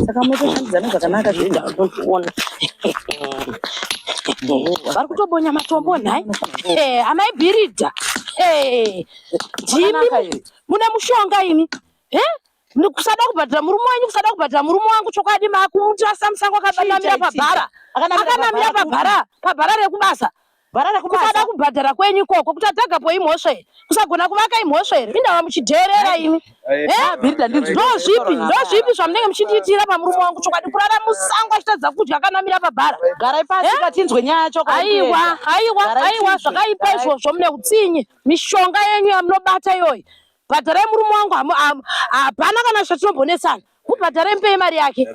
saka motoshandidzana zvakanaka zvindaoona vari kutobonya matombo nhai eh, amai bhiridha eh, ndimi mune mushonga imi eh, kusada kubhadhira murume wenyu kusada kubhadhira murume wangu chokwadi maakumutirasa musango akabanamira pabhara akanamira pabhara pabhara rekubasa varara kusada kubhadhara kwenyu ikoko kuti atagapo imhosva here kusagona kuvaka imhosva here indava muchidheerera imi ndozvipi ndozvipi zvamunenge muchindiitira pamurume wangu chokwadi kurara musango achitadza kudya akanamira pabhara garai pasi katinzwe nyaya chokwaiwa aiwa aiwa zvakaipa izvozvo mune utsinye mishonga yenyu yamunobata iyoyi bhadharai murume wangu hapana kana zvatinombonetsana Ubhadhare mupei mari yake.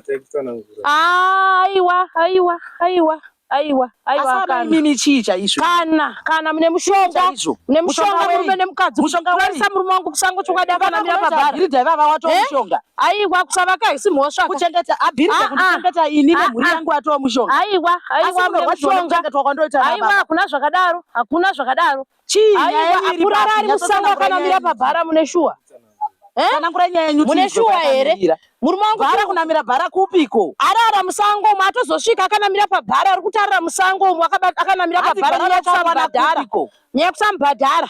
Ah, aiwa, aiwa, aiwa. Aiwa, aiwa kana. Mimi chii chaizvo? Kana, kana mune mushonga. Mune mushonga murume nemukadzi. Mushonga wei? Kurisa murume wangu kusango chokwadi kana mira pabhari. Iri dai vava wato eh? mushonga. Aiwa kusavaka haisi mhosva. Kuchengeta abhiri ah, ah. kuchengeta ini ah, nemhuri yangu wato mushonga. Aiwa, aiwa mune mushonga. Aiwa, hakuna zvakadaro. Hakuna zvakadaro. Chii nyaya yenyu kurara ari musango akanamira pabhara mune shuwa? Eh? Kana ngura nyaya yenyu mune shuwa here? Murume wangu bhara kunamira bhara kupiko? Arara musango umu atozosvika akanamira pabhara ari kutarira musango umu akanamira pabhara nyaya kusamubhadhara. Nyaya kusamubhadhara.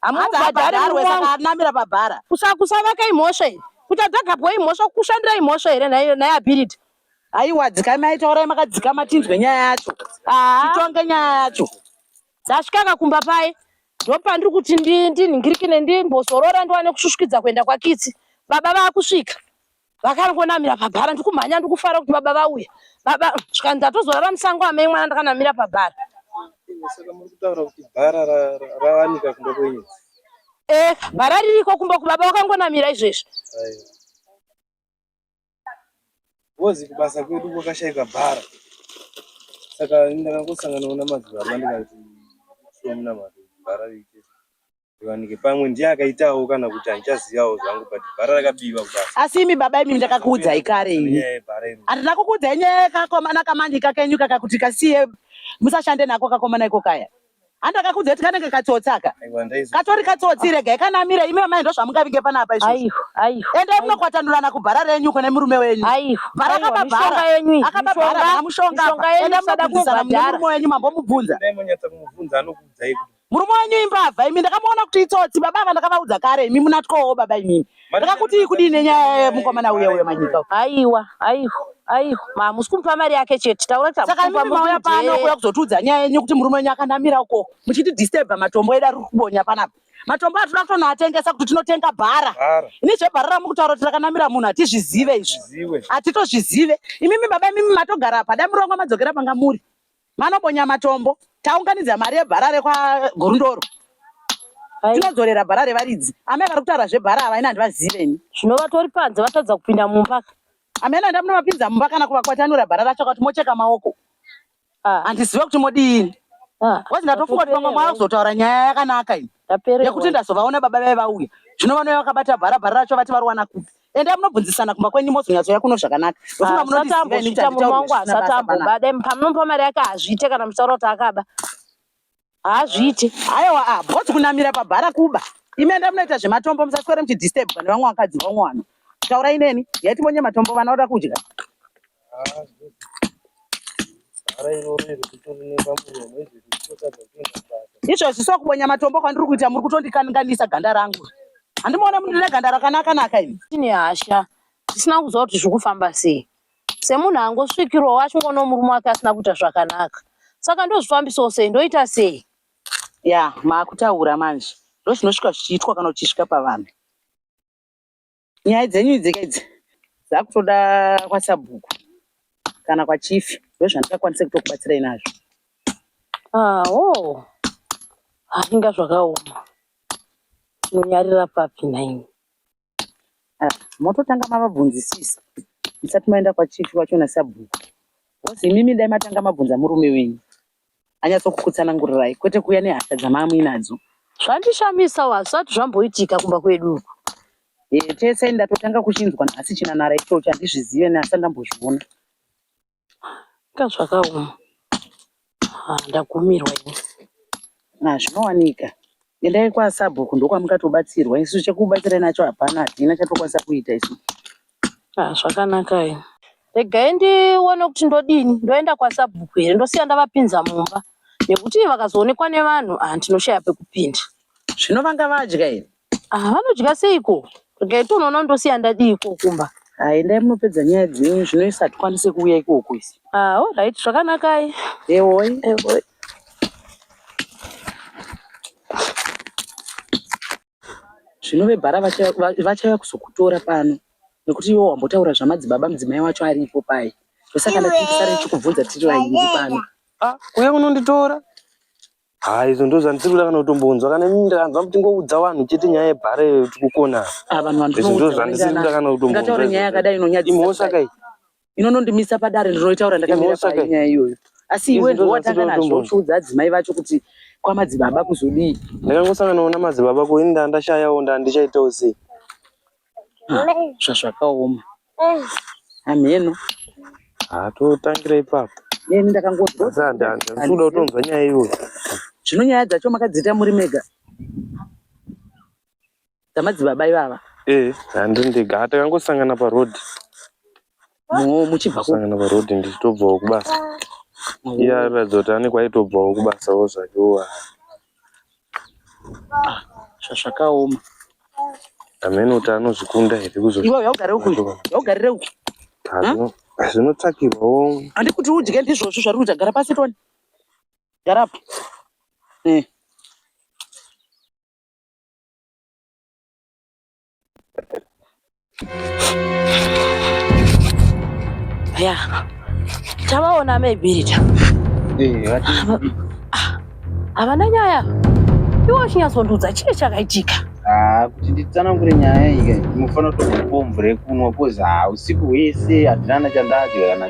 Hamubhadhare murume wangu. Akanamira pabhara. Kusavaka imhosva here? Kuti adzagabwa imhosva kushandira imhosva here naye ability? Aiwa dzikamai taurai makadzikama tinzwe nyaya yacho. Ah. Titonge nyaya yacho. dzasvikaka kumba paye ndopandiri kuti ndinhingirikine ndimbozorora ndiwane kusvusvikidza kuenda kwakitsi baba vakusvika vakangonamira pabhara ndikumhanya ndikufara kuti baba vauya baba zvikanzi ndatozorara musango amai mwana ndakanamira pabhara e bhara ririko kumba kubaba vakangonamira izvezvi Ngozi kubasa kwedu kwakashaika bhara. Saka ndakangosangana na madzibaba ndikati shomna mari bhara riite riwanike pamwe ndiye akaitawo kana kuti handichazivawo zvangu but bhara rakabiwa kubasa. Asi imi baba imi ndakakuudzai kare ini. Nyaya yebhara iri. Handina kukuudzai nyaya yakakomana kamanje kakenyu kaka kuti kasiye musashande nako kakomana iko kaya. andakakudza kuti kanenge katsotsi aka katori katsotsi regai kanamire imi amai ndozvamungavinge panapa izvoendai munokwatanurana kubhara renyu kune murume wenyu bhara akababhara akababhara mushonga endai munokudisana murume wenyu mambomubvunza murume wenyu imbavha imi ndakamuona kuti itsotsi baba ava ndakavaudza kare imi munatyowo baba imimi Ndakakuti kudii nenyaya yemukomana uya uya manyika? Aiwa, aiwa. Aiwa, ma musi kumupa mari yake chete. Taura tamupa. Saka mimi mauya pano kuya kuzotiudza nyaya yenyu kuti murume wenyu akanamira uko. Muchiti disturba matombo edu ari kubonya panapa. Matombo atinoda kutonoatengesa kuti tinotenga bhara. Ini zvebhara ramukutaura kuti rakanamira munhu hatizvizive izvi. Hatitozvizive. Imimi baba imimi matogara apa. Dai murongo madzokera panga muri. Manobonya matombo taunganidza mari yebhara rekwagurundoro tinodzorera bhara revaridzi amai vari kutaura zvebhara ava ini handivazive ini zvino vatori panze vatadza kupinda mumba amene handa munovapinza mumba kana kuvakwatanura bhara racho kuti mocheka maoko ah. handizive kuti modii ah. bcause ndatofunga kuti vamwe mwava kuzotaura nyaya yakanaka iyi yekuti ndazovaona baba vave vauya zvino vanouya vakabata bhara bhara racho vati variwana kupi enda munobvunzisana kumba kwenyu mozonyatsouya kuno zvakanaka asatamboita murume wangu asatamboba dai pamunomupa mari yake hazviite kana muchitaura kuti akaba hazviite aiwa ah, bhozi kunamira pabhara kuba imi enda munoita zvematombo musaswere muchidistebwa nevamwe vakadzi vamwe vanhu taurai neni yaiti monye matombo vana voda kudya izvozvi sokubonya matombo kwandiri kuita muri kutondikanganisa ganda rangu handimuona mundine ganda rakanaka naka ini tine hasha tisina kuziva kuti zviri kufamba sei semunhu angosvikirwa wacho ngono murume wake asina kuita zvakanaka saka ndozvifambisawo sei ndoita sei ya maakutaura manje ndozvinosvika zvichiitwa kana uchisvika pavanhu Nyaya dzenyu idzi idzi dzakutoda kwasabhuku kana kwachifi ndozvandingakwanise kutokubatsirai nazvo. Ah, oh. Ah, inga zvakaoma. Munonyarira papi nhaimi? Ah, mototanga mavabvunzisisa musati maenda kwachifi wacho nasabhuku. Hozi imimi dai matanga mabvunza murume wenyu. anyatsokukutsanangurirai kwete kuuya nehasha dzamaamuinadzo zvandishamisawo hazvisati zvamboitika kumba kwedu uku e, tese ndatotanga kuchinzwa nhasi chinanara ichocho handizvizive neasati ndambozviona ka zvakaoma ah, ndagumirwa ini ah, zvinowanika endai kwasabhuku ndokwamukatobatsirwa isu chekubatsira nacho hapana hatina chatokwanisa kuita isu Ah, zvakanaka ini. Regai ndione kuti ndodini, ndoenda kwasabhuku here ndosiya ndavapinza mumba nekuti vakazoonekwa nevanhu ah, ndinoshaya pekupinda. Zvino vanga vadya here? Ah, vanodya seiko? Regai tonoona ndosiya ndadii iko kumba. Ah, endai munopedza nyaya dzenyu zvino isi hatikwanise kuuya ikoko isi. Ah, all right, zvakanakai. Ehoi. Ehoi. zvinove bhara vachauya kuzokutora pano nekuti iwo wambotaura zvamadzibaba mudzimai wacho aripo paye ndosaka ndatisara ndichikubvunza tiri vairi pano ah, kuya kunonditora ha izvo ndo zvandisiri kuda kana kutombonzwa kana imi ndakanzwa kuti ngoudza vanhu chete nyaya yebhara iyo tikukona ah, izvo ndo zvandisiri kuda kana kutombonzwa imhosva kai inonondimisa padare ndinoitaura ndakamira panyaya iyoyo asi iwe ndiwe watanga nazvo uchiudza adzimai vacho kuti kwamadzibaba kuzodii ndakangosanganawo namadzibaba ko ini ndaa ndashayawo ndaa ndichaitawo sei ah, zvazvakaoma eh. hamheno ah, totangira ipapo ini ndakangozoda kutonzwa nyaya iyoyo zvino nyaya dzacho makadziita muri mega dzamadzibaba ivava eh handi ndega hata kangosangana pa road no muchibva ko sangana pa road ndichitobva ku basa iya ratidza kuti ane kwaitobva ku basa wo zvake wo ah zvakaoma amene kuti anozvikunda here kuzo iwe yaugarira uku yaugarira uku zvinotsvakirwawo handi kuti udye ndizvozvo zvari kuita gara pasi toni gara apa eh ya tavaona amebirita havana nyaya iwo chinyatsoundiudza chii chakaitika ah, kuti nditsanangure nyaya ika mufanira kutokupombure kunwa kozi ah, usiku hwese hatinana chandadya kana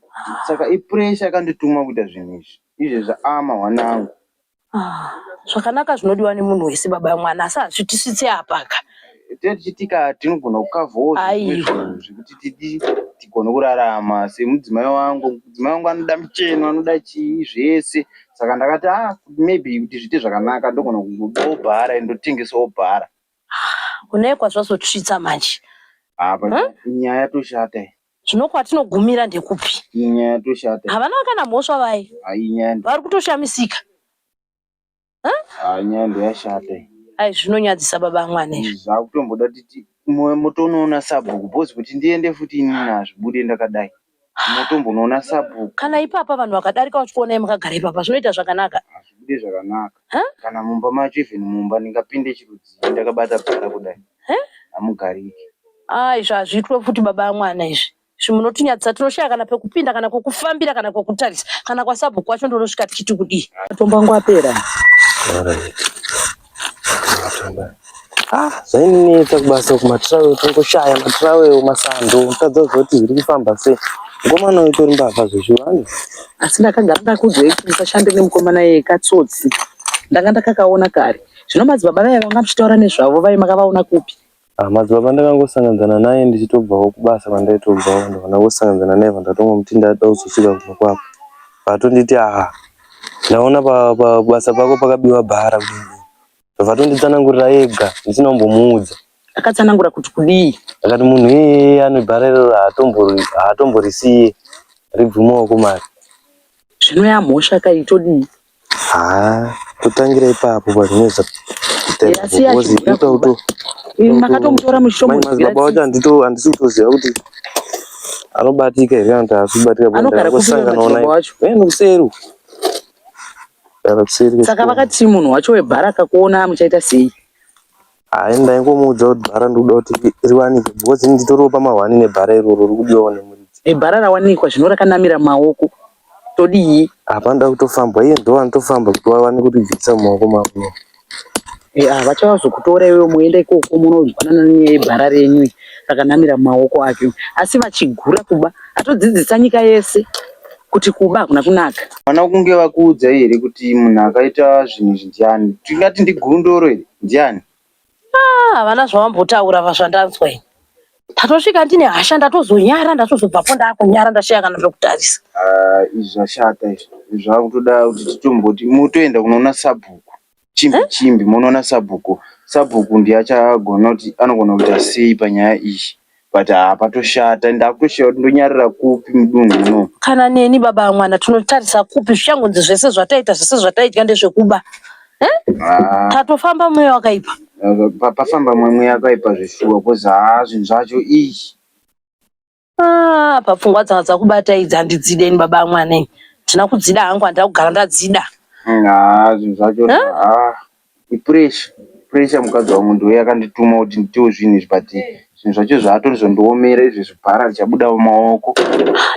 saka ipressure yakandituma kuita zvinhu izvi izvezvi ama mwana wangu ah, zvakanaka zvinodiwa nemunhu wese baba yamwana asi hazvitisvitse apaka tichitika tinogona kukavhozvekuti tidi tigone kurarama semudzimai wangu mudzimai wangu anoda mucheno anoda chii zvese saka ndakati a ah, maybe kuti zviite zvakanaka ndogona kubudawo bhara ndotengesawo bhara ah, unaye kwazvazotsvitsa manje apa ah, nyaya yatoshata Zvino kwatinogumira ndekupi? Iyi nyaya yatoshata. Havana kana mhosva vaye. Ah, iyi nyaya ndo- Vari kutoshamisika. ah, nyaya ndoyashata iyi. Ai zvinonyadzisa baba amwana izvi. zvakutomboda titi mo- motonoona sabhuku bhozi kuti ndiende futi ini nazvibude ndakadai motombonoona sabhuku Kana ipapa vanhu vakadarika vachikuonai makagara ipapa zvinoita zvakanaka. hazvibude zvakanaka kana mumba macho even mumba ndingapinde chirudzii ndakabata bhara kudai hamugariki ah izvi hazviitwe futi baba amwana izvi izvi munotinyadzisa tinoshaya kana pekupinda kana kwekufambira kana kwekutarisa kana kwasabhuku wacho ndonosvika tichiti kudii matombo angu apera Ah, zvainetsa kubasa uku matravel tongoshaya matravel masando mutadza kuzoti zviri kufamba sei mukomana uyu tori mbavha zvezvivanhu asi ndakagara ndakuudzai kuti musashande nemukomana yeye katsotsi ndanga ndakakaona kare zvino madzibaba vaye vanga muchitaura nezvavo vaye makavaona kupi ah, madzibaba ndakangosanganzana naye ndichitobvawo kubasa kwandaitobvawo ndakangosanganzana naye vandatongomuti ndada kuzosvika kumba kwako vatonditi aha ndaona pabasa pako pakabiwa bhara kudii Vatonditsanangurira ega ndisina kumbomuudza. Akatsanangura kuti kudii? Akati munhu iyeye anebhara iroro haatomborisiye ribvumawo kumari. Zvino yamhosva kai todii? Haa totangira ipapo pazvinoita makatomutora muchitomuziva wacho handisi kutoziva kuti anobatika here kana kuti haasi kubatika anogara kusangana naye nokuseri saka vakati munhu wacho webhara akakuona muchaita sei hayi ndaingomuudza kuti bhara ndikuda kuti riwanike because nditoriwo pamahwani nebhara iroro rikudiwawo nemuridzi ebhara rawanikwa zvino rakanamira maoko todii hapana da kutofambwa iye ndovanitofamba kuti wawane kuti bvisa mumaoko mako Yeah, vachazokutora iwe moenda ikoko munozwanana nenyaya yebhara renyu rakanamira mumaoko ake asi vachigura kuba atodzidzisa nyika yese kuti kuba hakuna kunaka vana kunge vakuudza here kuti munhu akaita zvinhu izvi ndiani tingati ndigundoro here ndiani ah, havana zvavambotaura vazvandanzwa ini tatosvika ndine hasha ndatozonyara ndatozobvapo ndakunyara ndashaya kana zvekutarisa ah, izvi zvashata izvi zvakutoda kuti titomboti motoenda kunoona sabhuku chimbi eh? chimbi monoona sabhuku sabhuku ndiye achagona kuti anogona kuita sei panyaya iyi but hapatoshata ah, ndakutoshaya kuti ndonyarira kupi mudunhu muno kana neni baba mwana tinotarisa kupi zvichangonzi zvese zvataita zvese zvataitya ndezvekuba tatofamba mweya wakaipa pafamba mweya wakaipa zvishuwa kozi haa zvinhu zvacho ichi ah, papfungwa dzanga dzakubata idzi handidzide ini baba amwana ini ndina kudzida hangu handina kugara ndadzida mm, haa zvinhu zvacho haa ipuresha puresha mukadzi wangu ndiwe yakandituma kuti nditiwo zvinhu izvi but zvinhu zvacho zvaatorizondiomera izvi zvibhara richabuda mumaoko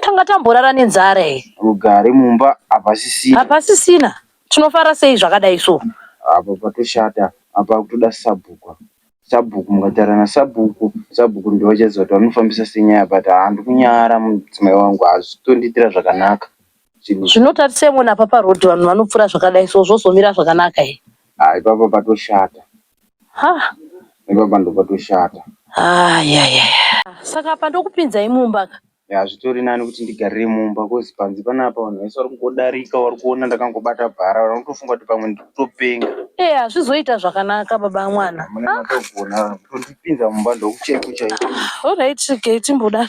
tanga tamborara nenzara iyi rugare mumba hapasisina hapasisina Tinofara sei zvakadai so. Apa patoshata apa akutoda sabhuku apa. Sabhuku mukataura nasabhuku sabhuku ndivo vachaziva kuti vanofambisa sei nyaya but haa ndikunyara mudzimai wangu hazvisi kutondiitira zvakanaka zvinhu izvi. Zvinotarisei mona apa paroad vanhu vanopfura zvakadai so zvozomira zvakanaka here. Haa ipapa patoshata. ha ipapa ndopatoshata ayaya saka apa ndokupinzai mumba ka hazvitori nani kuti ndigarire mumba kozi panzi panapa vanhu vese vari kungodarika vari kuona ndakangobata bhara vanhu vanotofunga kuti pamwe ndikutopenga ee hazvizoita zvakanaka baba mwana mune matogona kutondipinza mumba ndokucheko chaiko olright regai timbodaro